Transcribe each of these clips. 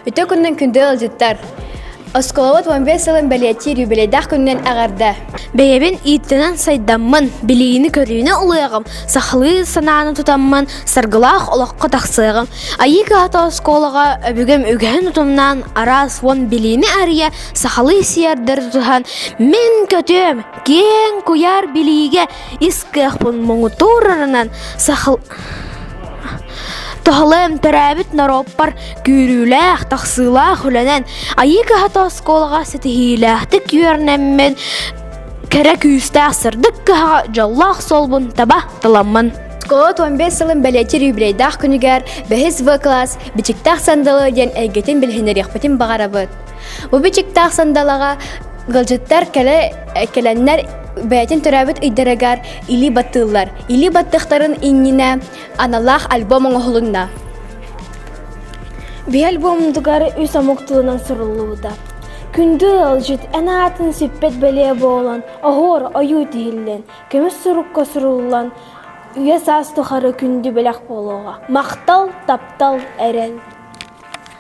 Үтө күннэн күндү ыалдьыттар! Оскуолабыт уон биэс сылын бэлиэтиир юбилейдаах күнүнэн аҕарда. Бэйэбин ииттэнэн сайдаммын, билиини-көрүүнү улуйаҕым, сахалыы санааны тутаммын, саргылаах олоххо тахсыаҕым. Айыы кыһата оскуолаҕа өбүгэм үгэһин утумнаан, араас уон билиини арыйа, сахалыы сиэрдэр тутуһан, мин көтүөм, киэҥ куйаар билиигэ ис кыахпын муҥутуурарынан сахал Тоһалыам төрөөбүт норуоппар күүрүүлээх, тахсыылаах үлэнэн Айыы кыһата оскуолаҕа ситиһиилээхтик үөрнэммин кэрэ күүстээх сырдык кыһаҕа дьоллоох солбун таба таламмын. Оскуола 15 сылын бэлиэтир юбилейдаах күнүгэр бэһис В класс Бичиктээх сандалы диэн эйгэтин билиһиннэриэхпитин баҕарабыт. Бу бичиктаах сандалаҕа Гылдьыттар кэлэ кэлэннэр бэйэтин төрөөбүт ыйдарыгар илии баттыыллар. Илии баттыахтарын иннинэ аналаах альбом оҥоһулунна. Би альбомдугар үс омук тылынан суруллубута. Күндү ыалдьыт эн аатын сиппэт бэлиэ буолан, оһуор ойуу тиһиллэн, көмүс сурукка суруллан, үйэ саас тухары күндү бэлэх буолуоҕа. Махтал, таптал, эрэл.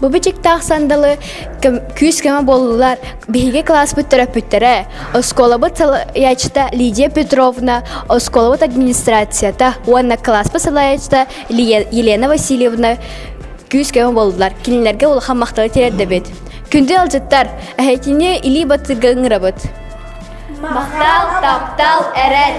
Бу бичиктээх сандалы күүс-көмө буоллулар биһиги класспыт төрөппүттэрэ, оскуолабыт салайаачыта Лидия Петровна, оскуолабыт администрацията уонна класспыт салайаачыта Елена Васильевна күүс-көмө буоллулар. Кинилэргэ улахан махталы тиэрдэбит. Күндү алжыттар, эһэтини илии батыга ыҥырабыт. Махтал, таптал, эрэл!